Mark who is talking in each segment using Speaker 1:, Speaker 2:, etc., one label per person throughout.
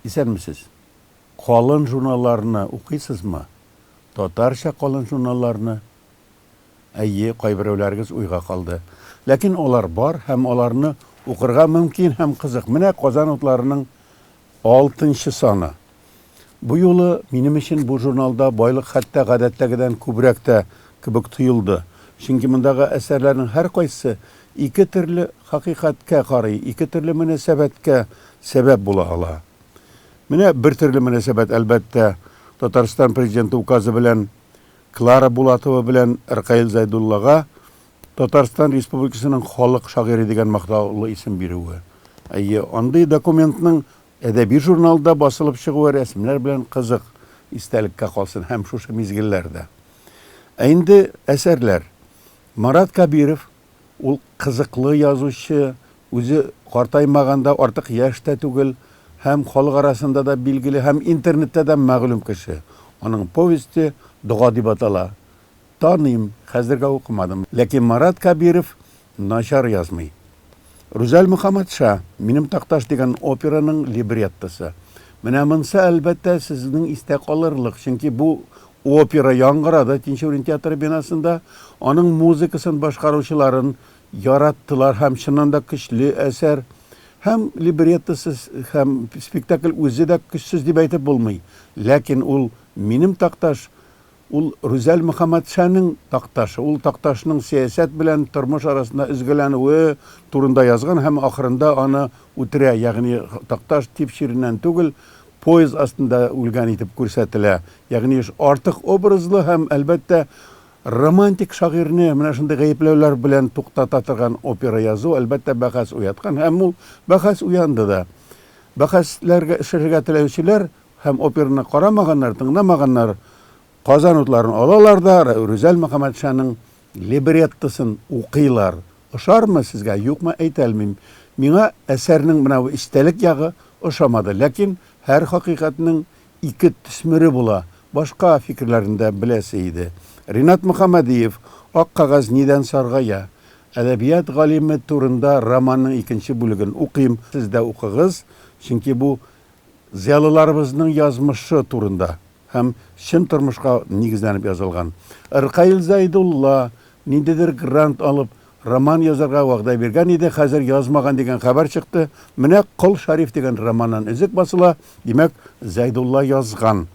Speaker 1: Исәнмесез! Калын журналларны укыйсызмы? Татарча калын журналларны? Әйе, кайберәүләрегез уйга калды. Ләкин алар бар һәм аларны укырга мөмкин һәм кызык. Менә Казан утларының алтынчы саны. Бу юлы минем өчен бу журналда байлык хәтта гадәттәгедән күбрәк тә кебек тоелды, чөнки мондагы әсәрләрнең һәркайсы ике төрле хакыйкатькә карый, ике төрле мөнәсәбәткә сәбәп була ала. Менә бер төрле мөнәсәбәт, әлбәттә, Татарстан Президенты Указы белән Клара Булатова белән Ркаил Зайдуллага Татарстан Республикасының халык шагыйре дигән мактаулы исем бирүе. Әйе, андый документның Әдәби журналда басылып чыгуы рәсемнәр белән кызык истәлеккә калсын һәм шушы мизгелләр дә. Ә инде әсәрләр. Марат Кабиров, ул кызыклы язучы, үзе картаймаган да, артык яшь тә түгел һәм халык арасында да билгеле һәм интернетта да мәгълүм кеше. Аның повесте Дога дип атала. Таныйм, хәзергә укымадым. Ләкин Марат Кабиров начар язмый. Рүзәл Мөхәммәтша, Минем такташ дигән операның либреттосы. Менә монсы, әлбәттә, сезнең истә калырлык, чөнки бу опера яңгырады Тинчурин театры бинасында, аның музыкасын башкаручыларын яраттылар һәм чыннан да көчле әсәр. Һәм либреттосы һәм спектакль үзе дә көчсез дип әйтеп булмый. Ләкин ул Минем такташ Ул Рүзәл Мөхәммәтшаның Такташы, ул Такташның сәясәт белән тормыш арасында өзгәләнүе турында язган һәм ахырында аны үтерә, ягъни Такташ тиф чиреннән түгел, поезд астында үлгән итеп күрсәтелә. Ягъни артык образлы һәм, әлбәттә, романтик шагыйрьне менә шундый гаепләүләр белән туктата торган опера язу, әлбәттә, бәхәс уяткан һәм ул бәхәс уянды да. Бәхәсләр эшләргә теләүчеләр Һәм операны карамаганнар, тыңламаганнар, Казан утларын алалар да Рүзәл Мөхәммәтшаның либреттосын укыйлар. Ошармы сезгә, юкмы, әйтәлмим. Миңа әсәрнең менә бу истәлек ягы ошамады, ләкин һәр хакыйкатьнең ике төсмере була, башка фикерләрне дә беләсе иде. Ринат Мөхәммәдиев, Ак кәгазь нидән саргая? Әдәбият галиме турында романның икенче бүлеген укыйм, сез дә укыгыз, чөнки бу Зыялыларыбызның язмышы турында һәм чын тормышка нигезләнеп язылган. Ркаил Зәйдулла, ниндидер грант алып, роман язарга вәгъдә биргән иде, хәзер язмаган дигән хәбәр чыкты. Менә Кол Шәриф дигән романнан өзек басыла, димәк, Зәйдулла язган.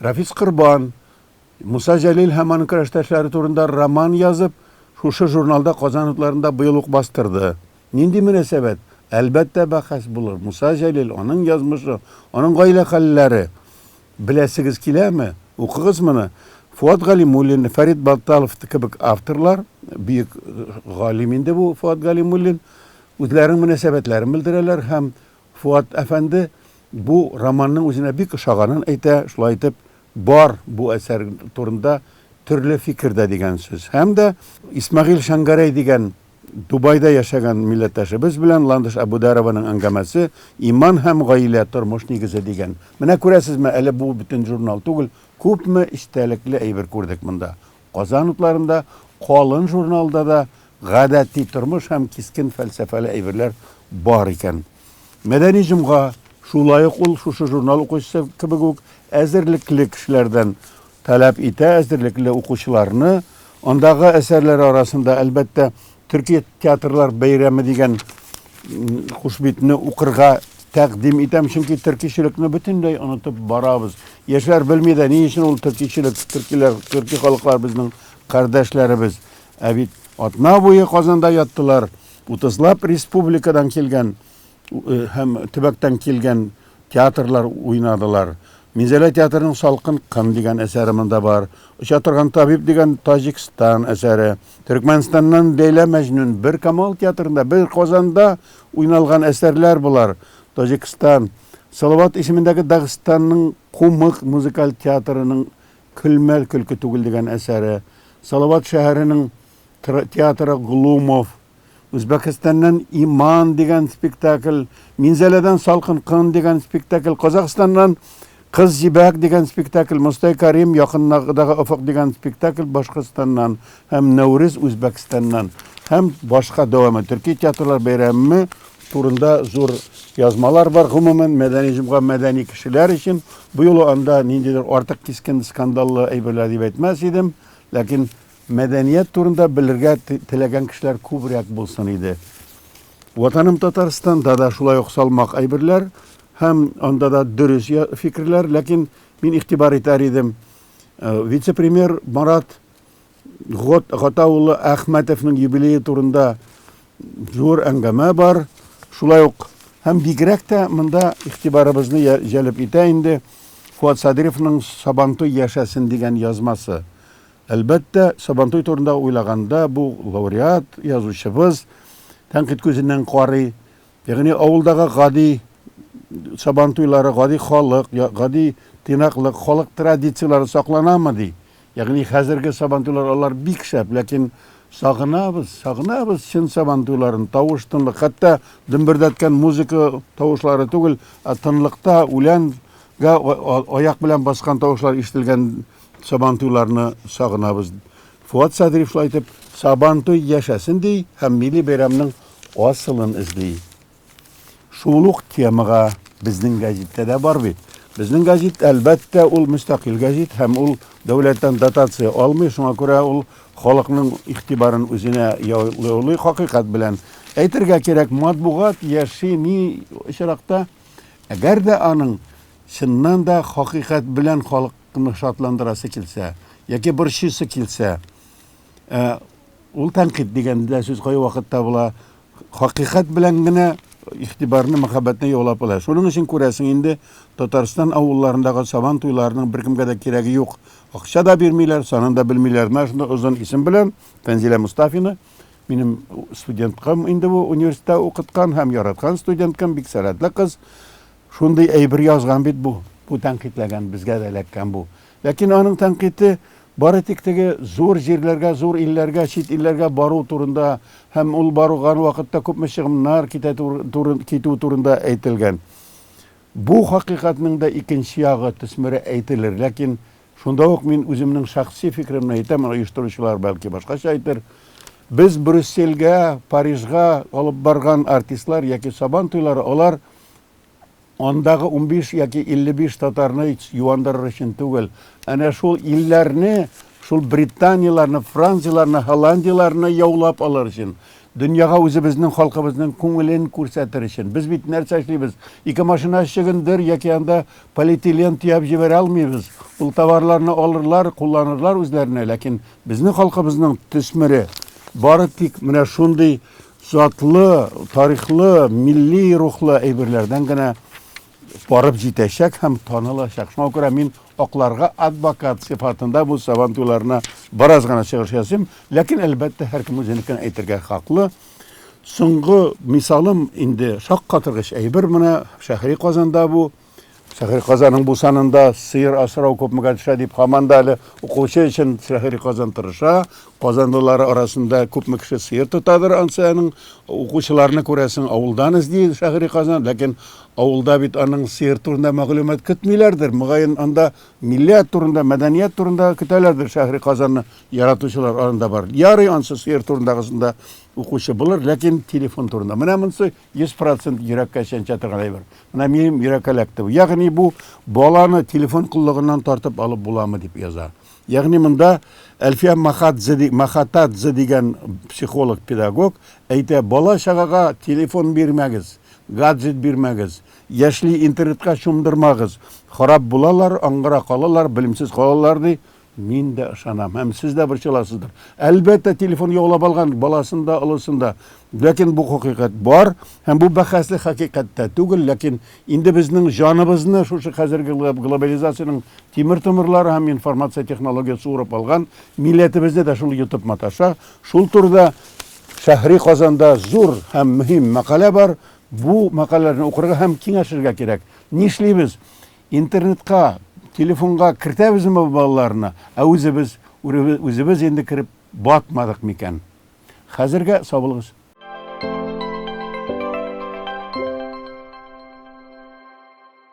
Speaker 1: Рәфис Корбан, Муса Җәлил һәм аның көрәштәшләре турында роман язып, шушы журналда Казан утларында быел ук бастырды. Нинди мөнәсәбәт? Әлбәттә, бәхәс булыр. Муса Җәлил, аның язмышы, аның гаилә хәлләре. Беләсегез киләме? Укыгыз моны. Фоат Галимуллин, Фәрит Батталов кебек авторлар, бөек галим инде бу Фоат Галимуллин, үзләренең мөнәсәбәтләрен белдерәләр һәм Фоат әфәнде бу романның үзенә бик ошаганын әйтә, шулай итеп, Бар, бу әсәр турында төрле фикер дә дигән сүз. Һәм дә Исмәгыйль Шәңгәрәй дигән Дубайда яшәгән милләттәшебез белән Ландыш Әбүдәрованың әңгәмәсе Иман һәм гаилә, тормыш нигезе дигән. Менә күрәсезме, әле бу бөтен журнал түгел, күпме эчтәлекле әйбер күрдек монда. Казан утларында, калын журналда да гадәти тормыш һәм кискен фәлсәфәле әйберләр бар икән. Мәдәни җомга, шулай ук ул шушы журнал укучысы кебек үк әзерлекле кешеләрдән таләп итә, әзерлекле укучыларны. Андагы әсәрләр арасында, әлбәттә, Төрки театрлар бәйрәме дигән хушбитне укырга тәкъдим итәм, чөнки төркичелекне бөтенләй онытып барабыз. Яшьләр белми дә, ни өчен ул төркичелек, төркиләр, төрки халыклар безнең кардәшләребез. Ә бит атна буе Казанда яттылар, утызлап республикадан килгән э, һәм төбәктән килгән театрлар уйнадылар. Минзәлә театрының Салкын кын дигән әсәре монда бар. Оча торган табиб дигән Таҗикстан әсәре. Төркмәнстаннан Ләйлә Мәҗнүн, бер Камал театрында, бер Казанда уйналган әсәрләр болар. Таҗикстан, Салават исемендәге Дагыстанның Кумык музыкаль театрының Көлмә, көлке түгел дигән әсәре, Салават шәһәренең театры Глумов, Үзбәкстаннан Иман дигән спектакль, Минзәләдән Салкын кын дигән спектакль, Казахстаннан Кыз җибәк дигән спектакль, Мостай Карим якындагы офык дигән спектакль Башкортстаннан һәм Нәүрүз Үзбәкстаннан һәм башка дәвамы төрки театрлар бәйрәме турында зур язмалар бар. Гомумән, мәдәни җомга мәдәни кешеләр өчен. Бу юлы анда ниндидер артык кискен скандаллы әйберләр дип әйтмәс идем, ләкин Мәдәният турында белергә теләгән кешеләр күбрәк булсын иде. Ватаным Татарстанда да шулай ук салмак әйберләр һәм анда да дөрес фикерләр, ләкин мин игътибар итәр идем. Э, вице-премьер Марат Гата улы Әхмәтовның юбилее турында зур әңгәмә бар. Шулай ук һәм бигрәк тә монда игътибарыбызны җәлеп итә инде Фуат Садыйровның Сабантуй яшәсен дигән язмасы. Әлбәттә, Сабантуй турында уйлаганда, бу лауреат, язучыбыз тәнкыйть күзеннән карый. Ягъни авылдагы гади Сабантуйлары, гади халык, гади тыйнаклык, халык традицияләре сакланамы ди. Ягъни хәзерге Сабантуйлар алар бик шәп, ләкин сагынабыз, сагынабыз чын Сабантуйларын, тавыш-тынлык, хәтта дөмбердәткән музыка тавышлары түгел, ә тынлыкта үләнгә аяк белән баскан тавышлар ишетелгән Сабантуйларны сагынабыз. Фуат Садриев шулай итеп Сабантуй яшәсен ди һәм милли бәйрәмнең асылын эзли. Шул ук темага безнең гәзиттә дә бар бит. Безнең гәзит, әлбәттә, ул мөстәкыйль гәзит һәм ул дәүләттән дотация алмый, шуңа күрә ул халыкның игътибарын үзенә яулый хакыйкать белән. Әйтергә кирәк, матбугат яши ни очракта, әгәр дә аның чыннан да хакыйкать белән халык кемне шатландырасы килсә, яки борчыйсы килсә, ә, ул тәнкыйть дигән дә сүз кай вакыт табыла, хакыйкать белән генә игътибарны, мәхәббәтне яулап ала. Шуның өчен күрәсең инде, Татарстан авылларындагы сабан туйларының беркемгә дә кирәге юк. Акча да бирмиләр, санын да белмиләр. Менә шундый озын исем белән Фәнзилә Мустафина, минем студенткам инде бу университетта укыткан һәм яраткан студенткам, бик сәләтле кыз. Шундый әйбер язган бит бу, бу тәнкыйтьләгән, безгә дә эләккән бу. Ләкин аның тәнкыйте бары тик теге зур җирләргә, зур илләргә, чит илләргә бару турында һәм ул барган вакытта күпме чыгымнар китә туры, китү турында әйтелгән. Бу хакыйкатьнең дә икенче ягы, төсмере әйтелер. Ләкин шунда ук мин үземнең шәхси фикеремне әйтәм, оештыручылар бәлки башкача әйтер. Без Брюссельгә, Парижга алып барган артистлар яки Сабан туйлары, алар андагы унбиш яки иллебиш татарны юандырыр өчен түгел, әнә шул илләрне, шул Британияләрне, Францияләрне, Һолландияләрне яулап алыр өчен, дөньяга үзебезнең халкыбызның күңелен күрсәтер өчен. Без бит нәрсә эшлибез? Ике машина чөгендер яки анда полиэтилен төяп җибәрә алмыйбыз. Ул товарларны алырлар, кулланырлар үзләренә, ләкин безнең халкыбызның төсмере бары тик менә шундый затлы, тарихлы, милли рухлы әйберләрдән генә барып җитәчәк һәм танылачак. Шуңа күрә мин акларга адвокат сыйфатында бу сабан туйларына бераз гына чыгыш ясыйм, ләкин әлбәттә һәркем үзенекен әйтергә хаклы. Соңгы мисалым инде шаккатыргыч әйбер менә шәһри Казанда бу Шәһри Казаның бу санында сыер асрау күпмегә төшә дип һаман да әле укучы өчен Шәһри Казан тырыша. Казанлылар арасында күпме кеше сыер тотадыр, ансының укучыларны күрәсең, авылдан эзли Шәһри Казан, ләкин авылда бит аның сыер турында мәгълүмат көтмиләрдер. Мөгаен, анда милләт турында, мәдәният турында көтәләрдер Шәһри Казанны яратучылар арасында бар. Ярый, ансы сыер турындагысында укучы булыр, ләкин телефон турында. Менә монсы Йөз процент йөрәккә чәнчә торган әйбер. Менә минем йөрәккә эләкте бу. Ягъни бу баланы телефон коллыгыннан тартып алып буламы дип яза. Ягъни монда Әлфия Махатзе, Махатадзе дигән психолог-педагог әйтә, бала-чагага телефон бирмәгез, гаджет бирмәгез, яшьли интернетка чумдырмагыз, харап булалар, аңгыра калалар, белемсез калалар, ди. Мин дә ышанам, һәм сез дә борчыласыздыр. Әлбәттә, телефон яулап алган баласын да, олысын да. Ләкин бу хакыйкать бар, һәм бу бәхәсле хакыйкать тә түгел, ләкин инде безнең җаныбызны шушы хәзерге глобализациянең тимер томырлары һәм информация технологиясе урап алган, милләтебезне дә шул йотып маташа. Шул турыда Шәһри Казанда зур һәм мөһим мәкалә бар. Бу мәкаләләрне укырга һәм киңәшергә кирәк. Нишлибез? Интернетка, телефонга кертәбезме бу балаларны, ә үзебез, үзебез инде кереп батмадык микән? Хәзергә сау булыгыз.